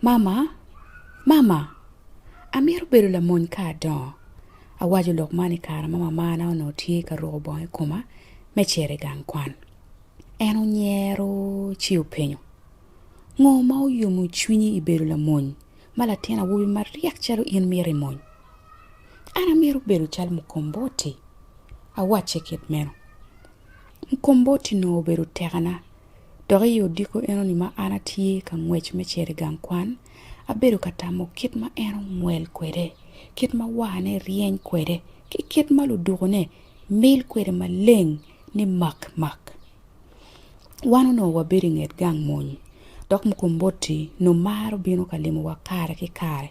Mama, mama, amito bedo lamony ka adongo. Awaco lok man i kare ma mamana onongo tye ka ruko bongo i koma me cito i gang kwan. En onyero ci openyo, Ngo ma oyomo cwinyi i bedo lamony ma latin awobi maryek calo in mito i mony? An amito bedo calo Mukomboti, awacce kit meno. Mukomboti onongo obedo tekana Dok i odiko enoni ma an atye ka ngwec me cito i gang kwan, abedo ka tamo kit ma en ongwel kwede, kit ma warne ryeny kwede, ki kit ma ludukone mil kwede maleng ni mak mak. Wan onongo wabedo i nget gang mony, dok Mukomboti onongo maro bino ka limowa kare ki kare.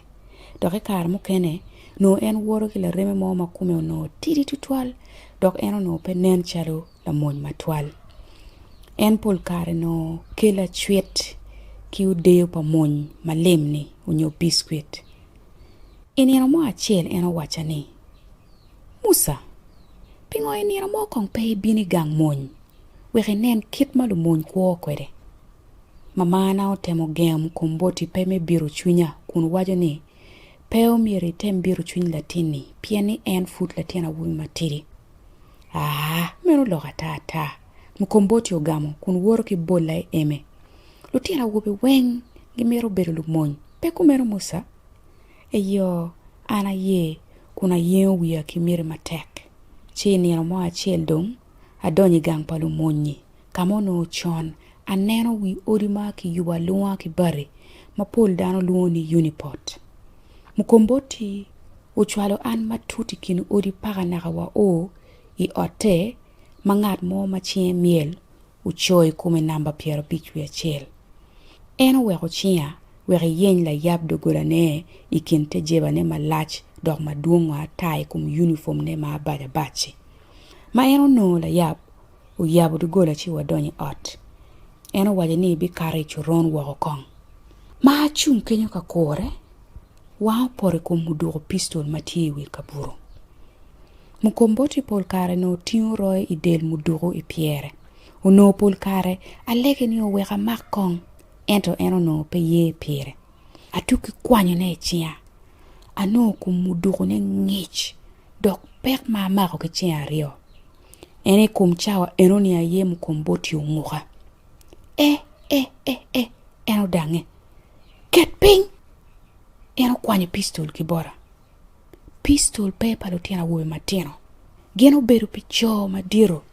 Dok i kare mukene, onongo en woto ki lareme mo ma kome onongo tidi tutwal dok en onongo pe nen calo lamony matwal. En pol kare nongo kelo acwit ki odeyo pa mony malim-ni onyo biskwit. I nino mo acel en owacca ni, Musa, pingo i nino mo kong pe ibino i gang mony wek inen kit ma lumony kwo kwede? Mamana otemo gengo kom boti pe me biro cwinya kun waco ni, Pe omyero item biro cwiny latinni pien ni en pud latin awobi matidi. Aa, meno oloko ata ata! Mukomboti ogamo kun woto ki bolla i eme. Lutino awobe weng gimito bedo lumony, pe kumeno Musa? Eyo, an aye, kun ayengo wiya ki miti matek. Ci i nino mo acel dong, adonyo i gang pa lumony-nyi, ka ma onongo con aneno wi odi ma kiyubo alunga ki bati ma pol dano lwongo ni unipot. Mukomboti Ocwalo an matut i kin odi paka naka wao i otte ma ngat mo ma cinge myel oco i kome namba pyerabic wiye acel. En oweko cinga wek iyeny layab doggolane i kin te jebane malac dok madwongo ata i kom yunipomne ma abac abac-ci. Ma en onongo layab, Oyabo doggola ci wadonyo i ot. En owaco ni bikato i coron woko kong. Ma acung kenyo ka kure, wanga opoto i kom muduko pistol ma tye i wi kabuto. Mukomboti pol kare onongo tingo royo i del muduko i pyere. Onongo pol kare alege ni owek amak kong, ento en onongo pe ye pire. Atukki kwanyone i cinga. Anongo kom mudukone ngic dok pek ma amako ki cinga aryo. En i kom cawa enoni aye mukomboti onguka. E, e, e, e, en odangnge. Ket piny! En okwanyo pistol ki bota. Pistol pe pa lutino awobe matino. Gin obedo pi co madito.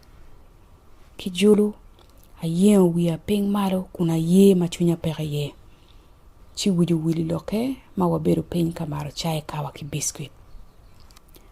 Ki julu, ayengo wiya piny malo kun aye ma cwinya peke iye. Ci wic owil i lokke ma wabedo piny ka mato cai, kawa ki biskuit.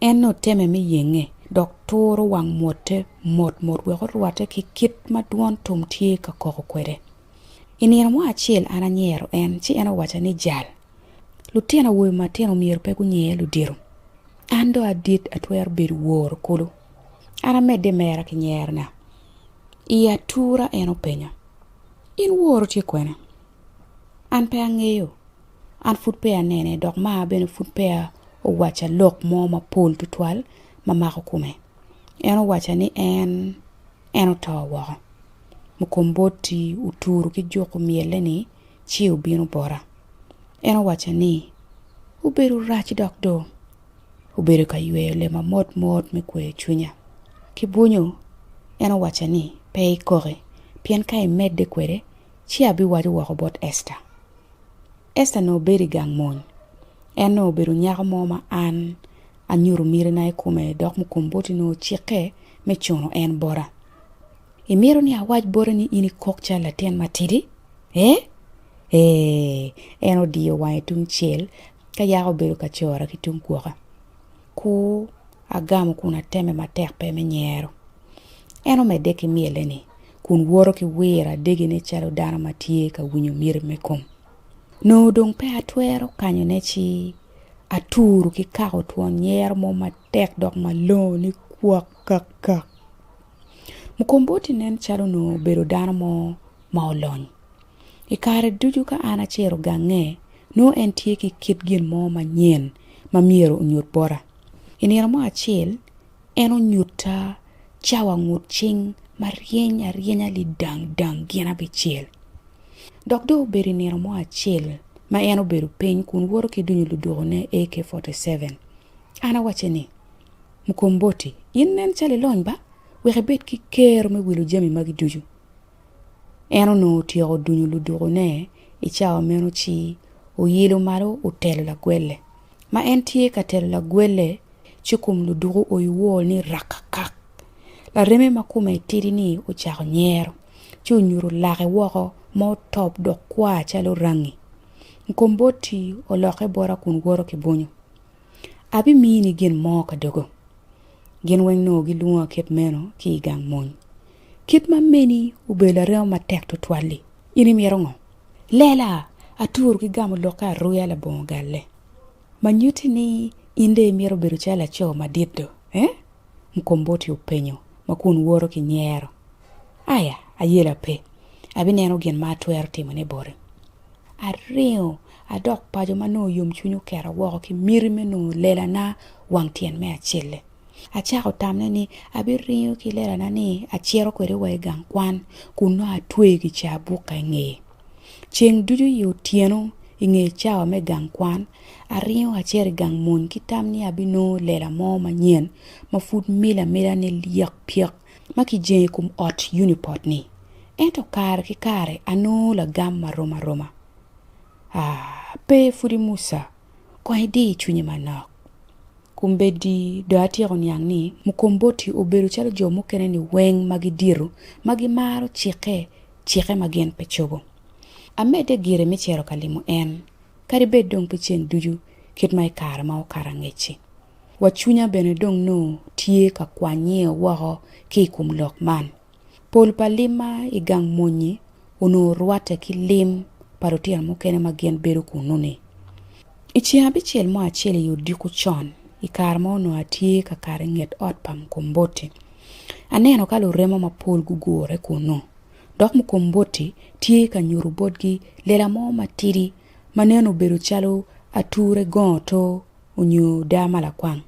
En oteme me yenge, dok turo wang mwote motmot wek orwatte ki kit ma dwon tum tye ka koko kwede. I nino mo acel an anyero en, ci en owacca ni, Jal, lutino awobe matino myero pe gunyer ludito. An dong adit atwero bedo woro kulu. An amedde mera ki nyerona. I atura en openyo, In woro tye kwene? An pe angeyo, an pud peya anene dok maa bene pud peya owaca lok mo mapol tutwal ma mako kome. En owaca ni en, en oto woko. Mukomboti oturu ki juku myelle ni ci obino bota. En owaca ni, obedo rac dok do. Obedo ka yweyo lema mot mot me kweyo cwinya. Ki bwunyo, en owaca ni, pe ikoki, pien ka imedde kwede, Ci abiwaco woko bot Esta. Esta nongo bedo i gang mony. En nongo obedo nyako mo ma an anyuto mitina i kome dok Mukomboti nongo ocikke me cuno en bota. Imito ni awac bote ni in ikok calo latin matidi? Ee? Ee! En odiyo wange tungcel ka yaka obedo ka cora ki tung gwoka. Kur agamo kun ateme matek pe me nyero. En omedde ki myelle ni, Kun woto ki wiro adegine calo dano ma tye ka winyo myeri me kom. Nongo dong pe atwero kanyone ci aturu ki kako twon nyero mo matek dok malongo ni kwak kak kak. Mukomboti nen calo onongo obedo dano mo ma olony. I kare ducu ka an acito gange, nongo en tye ki kit gin mo manyen ma myero onyut bota. I nino mo acel, en onyutta cawa ngut cing ma ryeny aryenya lidang dang gin abicel. Dok dong obedo i nino mo acel ma en obedo piny kun woto ki dunyo ludokone AK-47. An awacce ni, Mukomboti, in nen calo ilony ba? Wek ibed ki kero me wilo jami magi ducu. En onongo otyeko dunyo ludukone i cawa meno ci oyelo malo otelo lagwelle. Ma en tye ka telo lagwelle, ci kom luduku oyo wor ni rakakak. Lareme ma kome tidi-ni ocako nyero, ci onyuto lake woko ma otop dok kwa calo rangi. Mukomboti olokke bota kun woto ki bunyu. Abimini gin mo ka dogo. Gin weng nongo gilwonga kit meno ki i gang mony. Kit ma meni obedo laremo matek twatwal-li! In imito ngo? Lela! Aturu ki gamo lokke aruya labongo galle. Ma nyutti ni in dong imito bedo calo laco madit do, eh? Mkomboti openyo ma kun woto ki nyero. Aya, ayela pe. Abineno gin ma atwero timone boti. aringo adok paco ma nongo yomcwinya oketa woko ki miti me nongo lelana wang tyen me acel-le. Acako tamme ni abiringo ki lelana-ni acito kwede wa i gang kwan kun nongo atweyo kicaa bukka i ngeye. Ceng ducu i otyeno i nge cawa me gang kwan, aringo acito i gang mony ki tam ni abinongo lela mo manyen ma pud mila amila ni lyek pyek. ma kijengo i kom ot Unipod ni, ento kare ki kare anongo lagam ma rom aroma. Ah, pe pwodi Musa kong idir cwinyi manok. Kombeddi dong atyeko niang ni Mukomboti obedo calo jo mukene-ni weng ma gidito ma gimaro cikke cikke ma gin pe cobo. Amedde gire me cito ka limo en, kadi bed dong pe ceng ducu kit ma i kare ma okato angec-ci. Wa cwinya bene dong nongo tye ka kwanye woko ki i kom lok man. Pol pa limma i gang mony-nyi onongo rwatte ki lim pa lutino mukene ma gin bedo kunnu-ni. I ceng abicel mo acel i odiko con, i kare ma onongo atye ka kato i nget ot pa Mkomboti, aneno ka luremo mapol gugure kunnu. Dok Mkomboti tye ka nyuto botgi lela mo matidi ma nen obedo calo ature gongo to onyo daa ma lakwang,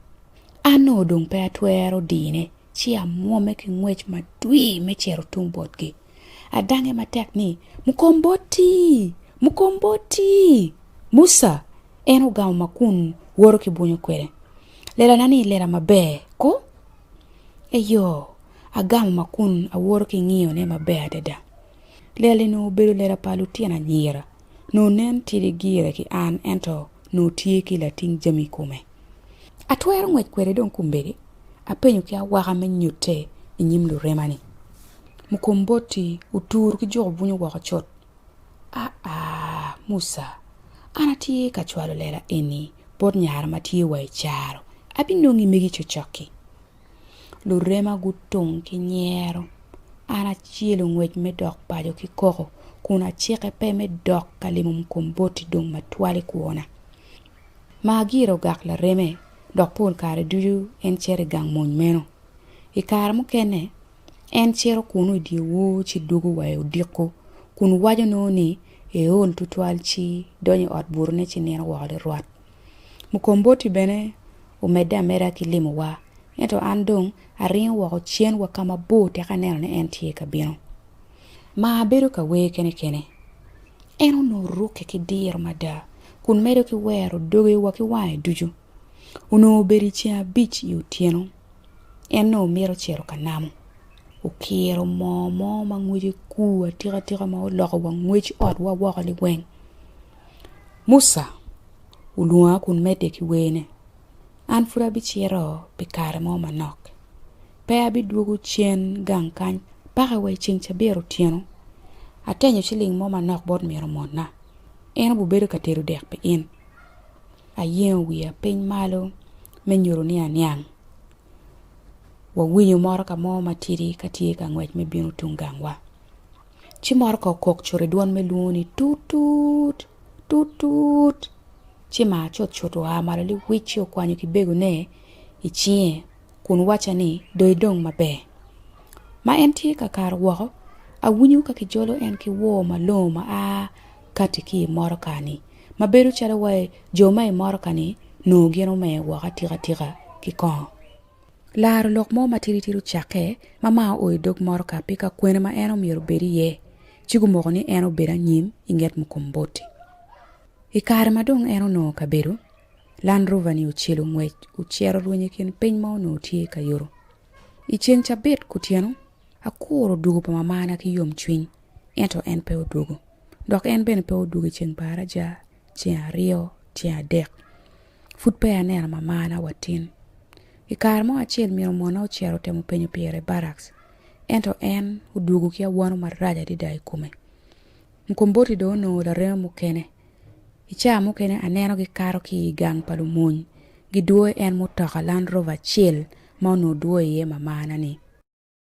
an ongo dong pe atwero dine ci amwome ki ngwec madwir me cito tung botgi. Adange matek ni, Mukomboti! Mukomboti! Musa! En ogamo ma kun woto ki bwonyo kwede. Lelana ni lela maber ko? Eyo, agamo ma kun awoto ki ngiyone maber adada. Lela-ni onongo obedo lela pa lutino anyira nongo nen tidi gire ki an ento nongo tye ki lating jami i kome. Atwero ngwec kwede dong kombeddi? apenyo ki awaka me nyutte i nyim lurema ni, Mukomboti otur ki juko bunyu woko cut? Aa, Musa, an atye ka cwalo lela eni bot nyara ma tye wa i caro, abinongi megi cocok-ki. Lurema gutung ki nyero. An acelo ngwec me dok paco ki koko kun acike pe me dok ka limo Mkomboti dong matwal i kwona. Maagira ogak lareme dok pol kare ducu en cito i gang mony meno. I kare mukene, en cito kunnu i dyewor ci dwogo wa i odiko kun waco nongo ni eol tutwal ci donyo i ot butone ci nino woko lirwat. Mukomboti bene omedde ameda ki limowa, ento an dong aringo woko cen wa ka mabor tek aneno ni en tye ka bino. Ma abedo ka wer kene kene. En onongo rukke ki diro mada kun medo ki wero doge wa ki wange ducu. Onongo obedo i ceng abic i otyeno. En nongo mito cito ka namo. Okiro moo mo ma ngwece kur atika tika ma oloko wa ngwec otwa woko liweng. Muca olwonga kun medde ki wene, An pud abicito pi kare mo manok, pe abidwogo cen gang kany paka wa i ceng cabit otyeno. Atenyo ciling mo manok bot min omona, en obibedo ka tedo dek pi in. Ayengo wiya piny malo me nyuto ni aniang. Wawinyo motoka mo matidi ka tye ka ngwec me bino tung gangwa. Ci moro ka okok cut i dwon me lwongo ni tut tut tut tut. Ci mar cut cut oa malo liwic ci okwanyo ki begone i cinge kun wacca ni do idong maber. Ma en tye ka karo woko awinyo ka kijolo en ki wor malongo ma a kati ki i motoka ni ma bedo calo wai jo ma i motoka ni nongo gin omer woko atika tika ki kongo. Laro lok mo matidi tidi ocakke ma mar oo idog motoka pi ka kwene ma en omyero obed iye, ci gumoko ni en obed anyim inget Mukomboti. I kare ma dong en onongo kabedo, Land Rover ni ocelo ngwec ocito rwenyo ikin piny ma onongo tye ka yuto. I ceng cabit kutyeno, akuro odwogo pa mamana ki yom cwiny, ento en pe odwogo. Dok en bene pe odwogo iceng pa araja, ceng aryo, ceng adek. Pud peya aneno mamana wa tin. I kare mo acel myero mona ocito otemo penyo pire i barracks, ento en odwogo ki awano marac adada i kome. Mkomboti dong onongo lareme mukene. I caa mukene aneno gikato ki i gang pa lumony, gidwoyo en mutoka Land Rover acel ma onongo dwoyo iye mamana-ni.